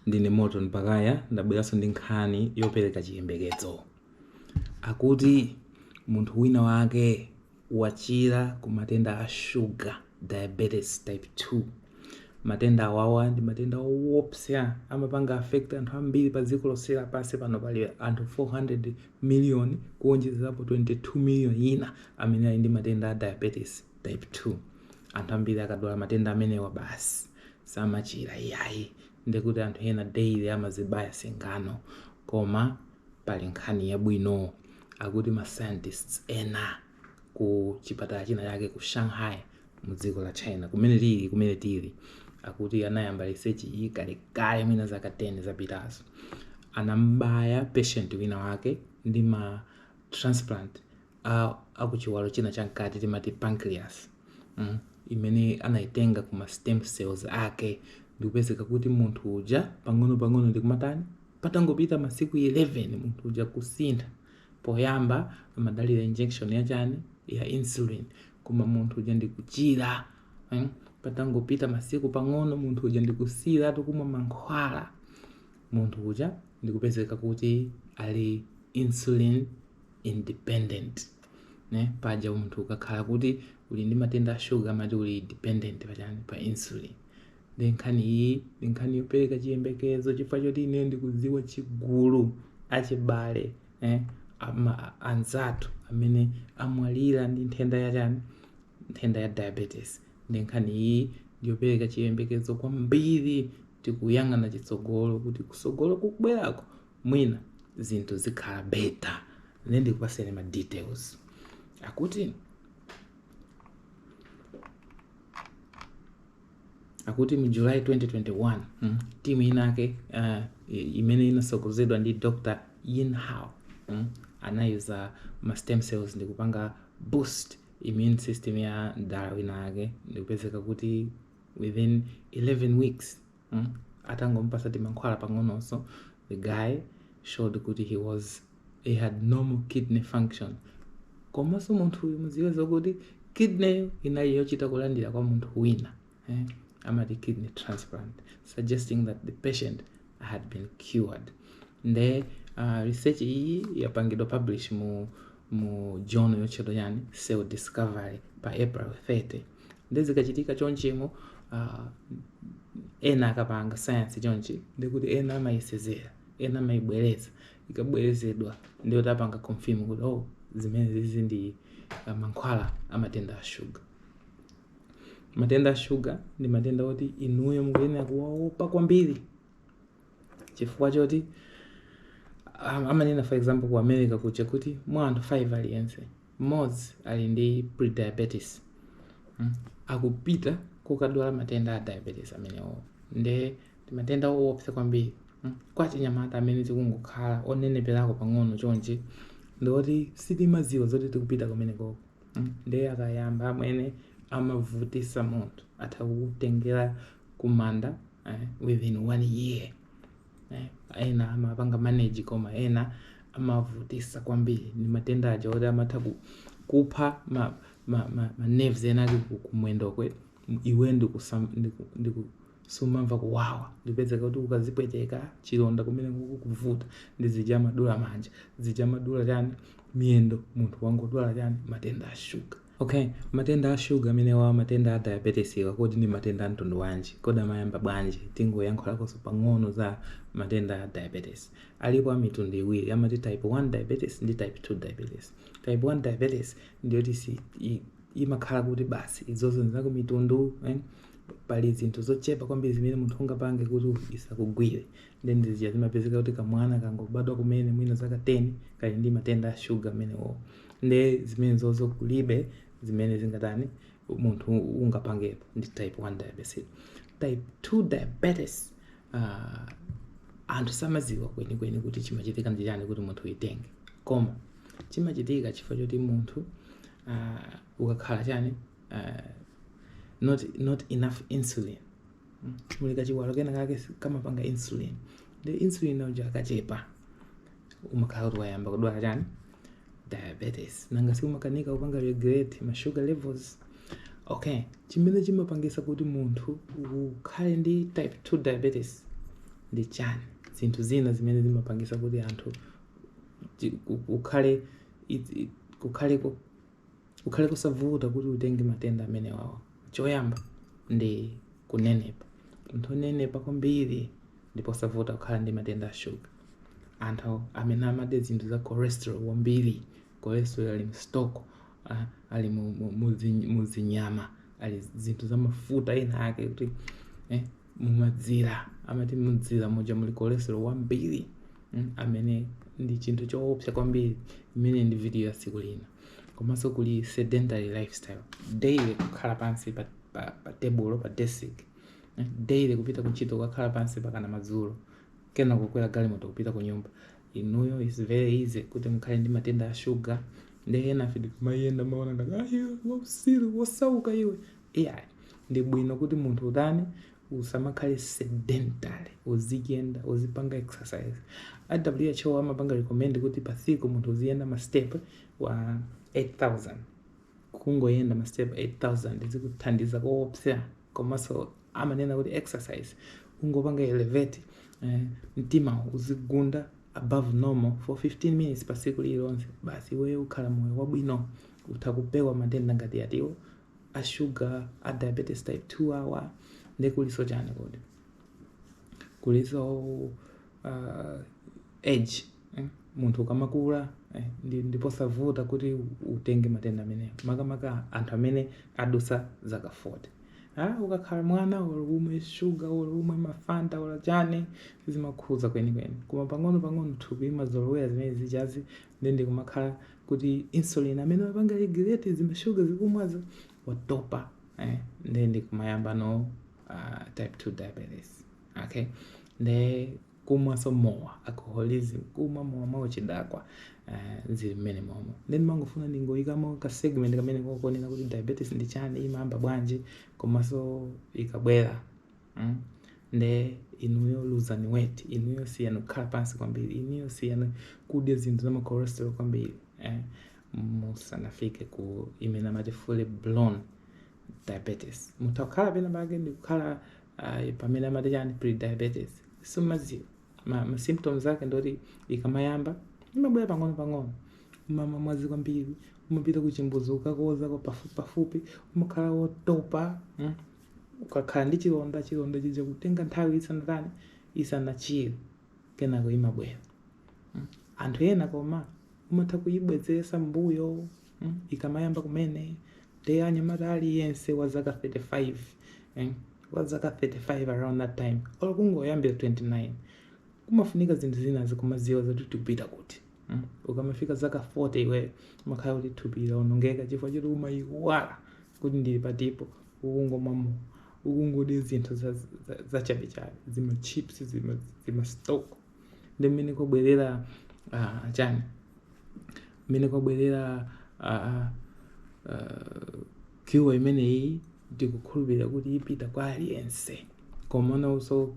Ndine Morton Pakaya ndabweranso ndi nkhani yopereka chiyembekezo. Akuti munthu wina wake wachira ku matenda a shuga, diabetes type 2. Matenda awawa ndi matenda owopsa amapanga affect anthu ambiri pa dziko lonse lapansi pano pali anthu 400 million kuwonjezerapo 22 million ina amene ali ndi matenda a diabetes type 2. Anthu ambiri akadwala matenda amenewa basi samachira iyayi ndekuti anthu ena daily amazibaya singano koma pali nkhani yabwino akuti ma scientists ena ku chipatala china chake ku Shanghai mu dziko la China kumene tili kumene tili akuti anayamba research iyi kalekale mwina zaka 10 zapitazo anambaya patient wina wake ndi ma transplant a, a ku chiwalo china cha mkati timati pancreas mm, imene anaitenga ku ma stem cells ake ndikupezeka kuti munthu uja pang'ono pang'ono ndikumatani patangopita masiku 11 munthu uja kusintha poyamba amadalira injection ya chani ya insulin koma munthu uja ndikuchira mm, patangopita masiku pang'ono munthu uja ndikusiyira tikumwa mankhwala munthu uja ndikupezeka kuti ali insulin independent nde paja munthu ukakhala kuti uli ndi matenda a shuga amati uli dependent pachani pa insulin nde nkhani iyi ndi nkhani yopereka chiyembekezo chifukwa choti ine ndikudziwa chigulu achibale eh, ama- anzathu amene amwalira ndi nthenda ya chani nthenda ya diabetes ndi nkhani iyi ndiyopereka chiyembekezo kwambiri tikuyang'ana chitsogolo kuti kusogolo kukubwerako mwina zinthu zikhala better nde ndikupaseni ma details akuti akuti mu july 2021 mm, timu inake uh, imene inatsogozedwa ndi dr yin hao mm, anayuza ma stem cells ndi kupanga boost immune system ya mdala wina ake ndikupezeka kuti within 11 weeks mm? atangomupasa timankhwala pang'ononso the guy showed kuti he was he had normal kidney function komanso munthu uyu mudziwe zokuti kidney inali yochita kulandira kwa munthu wina eh? amati kidney transplant suggesting that the patient had been cured nde uh, research iyi yapangidwa publish mu mu journal yotchedwa chani cell discovery pa april 30 nde zikachitika chonchimo ah, ena akapanga sayansi chonchi ndikuti ena amayisezera ena amayibwereza ikabwerezedwa ndiyo tapanga confirm kuti oh zimenezizi ndi ah, mankhwala a matenda a shuga matenda a shuga ndi matenda oti inuyo mukuyenera kuwaopa kwambiri chifukwa choti am- amanena for example ku america kuja kuti mwa anthu 5 aliyense mmodzi ali ndi prediabetes mm, akupita kukadwala matenda a diabetes amenewo nde ndi matenda owopsa kwambiri mm, kwa achinyamata amene tikungokhala oneneperako pang'ono chonchi ndikuti sitimadziwa zoti tikupita kumenekoko mm, nde akayamba amenewa amavutisa munthu atha kutengera kumanda eh, within one year eh, ena amapanga manage koma ena amavutisa kwambiri ndi matenda aja oti amatha ku- kupha ma, ma, ma, ma nerves ena ali ku- kumwendokwe iwe ndikusam- ndiku- ndiku- sumamva kuwawa n'kupezeka kuti ukazipweteka chilonda kumeneko kukuvuta ndi zija amadula manja zija amadula chani miyendo munthu wangodwala chani matenda a shuga Ok, matenda a shuga amenewa, matenda a diabeteswa, kodi ndi matenda a mtundu wanji? Kodi amayamba bwanji? Tingoyankhulakonso pang'ono za matenda a diabetes. Alipo a mitundu iwiri, amati type 1 diabetes ndi type 2 diabetes. Type 1 diabetes ndiyoti si i- imakhala kuti basi izozo ndi zakumtundu eh? pali zinthu zochepa kwambiri zimene munthu ungapange kuti isakugwire nde ndi zija zimapezeka kuti kamwana kangobadwa kumene mwina zaka 10 kali ndi matenda a shuga amenewo nde zimenezozo kulibe zimene zingatani munthu ungapangepo ndi type 1 diabetes type 2 diabetes ah, anthu samadziwa kwenikweni kuti chimachitika ndi chani kuti munthu uitenge koma chimachitika chifukwa choti munthu ah, ukakhala chani ah, not, not enough insulin muli kachiwalo kena kake si- kamapanga insulin nde insulin uja akachepa umakhala kuti wayamba kudwala chani diabetes nanga si umakanika kupanga regulate ma sugar levels okay chimene chimapangisa kuti munthu ukhale ndi type 2 diabetes ndi chani zinthu zina zimene zimapangisa kuti anthu chi- ku- kukhale it- it- kukhale ku- kukhale kosavuta kuti utenge matenda amenewawa choyamba ndi kunenepa munthu onenepa kwambiri ndi posavuta kukhala ndi matenda a shuga anthu amene amadya zinthu za cholesterol wambiri cholesterol ali mstock uh, ali mu- mu- muzi- muzinyama ali zinthu za mafuta ena ake kuti eh, m'mazira amati mu dzira muja muli cholesterol wambiri mm, amene ndi chinthu choopsa kwambiri imene ndi video ya tsiku lina komanso kuli sedentary lifestyle daily kukhala pansi pa, pa, pa tebulo pa desk mm, daily kupita kuntchito kukakhala pansi mpakana madzulo kenako kukwera galimoto kupita ku nyumba inuyo it's very easy kuti mukhale ndi matenda a shuga ndi ena afe tikumayenda amaona ngati ayo wausiru wosauka iwe iyayi ndi bwino kuti munthu utani usamakhale sedentary uziyenda uzipanga exercise a who amapanga recommend kuti pa tsiku munthu uziyenda ma step okwana 8000 kungoyenda ma step 8000 zikuthandiza koopsa komanso amanena kuti exercise kungopanga elevate eh, mtima uzigunda above normal for 15 minutes pa tsiku lililonse basi iweyo ukhala moyo wabwino utha kupewa matenda ngati yatiwo a sugar a diabetes type 2 awa ndi kuliso chani kodi kuliso uh, age eh? munthu ukamakula eh? ndi- ndi posavuta kuti utenge matenda amenewo makamaka anthu amene adusa zaka 40 ah, ukakhala mwana olo umwe shuga olo umwe mafanta olo chani sizimakhuza kwenikweni koma pang'ono pang'ono thupi limazolowera zimene zijazi nde ndikumakhala kuti insulin amene wapanga regulate zimashuga ukumwazo watopa eh, nde ndikumayambano uh, type 2 diabetes okay nde kumwanso mowa alcoholism kumwa mowa mwauchidakwa uh, eh, zili mmene momo nde nimangofuna ndingoyikamo ka segment kamene konena kuti diabetes ndi chani imayamba bwanji komanso ikabwera mm? nde inuyo luzani weight inuyo siyani kukhala pansi kwambiri inuyo siyani kudya zinthu za macholesterol kwambiri eh? musanafike ku imene amati fully blown diabetes mutha kukhala pena pake ndi kukhala uh, pamene amati chani prediabetes sumaziwa ma, ma symptoms ake ndoti ikamayamba imabwera pang'ono pang'ono umamwa madzi kwambiri umapita kuchimbuzi kukakoza pafupi pafupi umakhala wotopa mm? ukakhala ndi chilonda chilonda chija chikutenga nthawi isanatani isanachire kenako imabwera mm. anthu ena koma umatha kuyibwezesa mbuyo mm. ikamayamba kumene te anyamata aliyense wa zaka 35 eh? wa zaka 35 around that time olo kungoyambira 29 kumafunika zinthu zina tizimaziwa zoti tikupita kuti Mm. ukamafika zaka 40 iwe umakhala kuti thupi laonongeka chifukwa choti umayiwala kuti ndili patipo ukungomwa mowa ukungodya zinthu za- za- zachabechabe zima chips zima, zima stock nde mmene kwabwerera ah, chani mmene kwabwerera ah, ah, cure imeneyi ndikukhulupirira kuti ipita kwa aliyense koma nawonso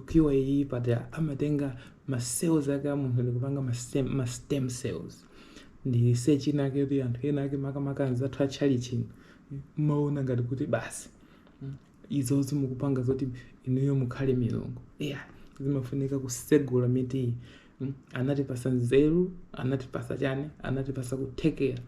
cure iyi paja amatenga ma cells ake a munthu ndikupanga ma stem, ma stem cells ndi research ina ake yoti anthu ena ake makamaka anzathu a tchalichi mmaona ngati kuti basi mm, izozo mukupanga zoti inuyo mukhale milungu eya zimafunika kusegula mituyi mm, anatipasa nzeru anatipasa chani anatipasa kuthekera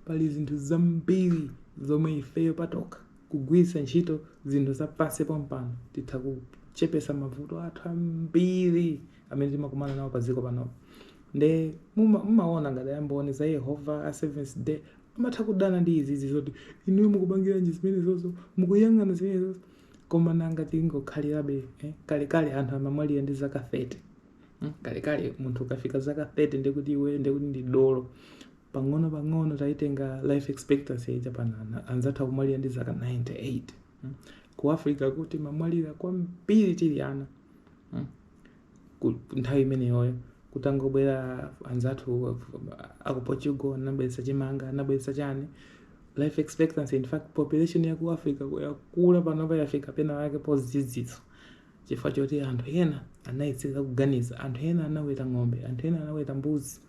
pali zinthu zambiri zomwe ifeyo patokha kugwiritsa ntchito zinthu za pansi pompano titha kuchepesa mavuto athu ambiri amene timakumana nawo pa dziko panopo nde mumaona ngati amboni za yehova a seventh day amatha kudana ndi izizi zoti inuyo mukupangiranji zimenezozo za Mulungu zimenezozo koma nanga tingokhalirabe eh? kalekale anthu amamwalira ndi zaka 30 mm? kalekale munthu ukafika zaka 30 ndekuti iwe ndekuti ndi dolo pang'ono pang'ono taitenga life expectancy yaija panana anzathu akumwalira ndi zaka 98 mm. ku africa kuno timamwalira kwambiri tili ana mm. Ku- nthawi imeneyoyo kutangobwera anzathu aku portugal anabweretsa chimanga anabweretsa chani life expectancy in fact population yaku africa yakula panopa yafika pena wake pozidzitsa chifukwa choti anthu ena anayetsetsa kuganiza anthu ena anaweta ng'ombe anthu ena anaweta mbuzi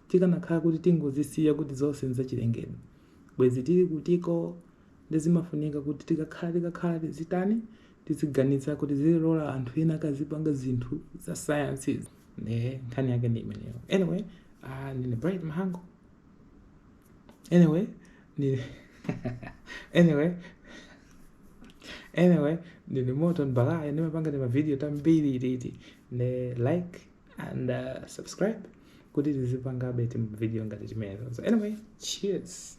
Tikanakhala kuti tingozisiya kuti zonse nzachilengedwe, bwezi tili kutiko? Nde zimafunika kuti tikakhala tikakhala tizitani, tiziganiza kuti tizilora anthu ena akazipanga zinthu za science izi, nde nkhani yake ndi imeneyo. Anyway, ah, ndine Bright Mahango. Anyway, ndine anyway, anyway, ndine Morton Balaya, ndimapanga timavidiyo tambiri titi. Nde like, and uh, subscribe kuti tizipangabe tima video ngati timenezo so anyway cheers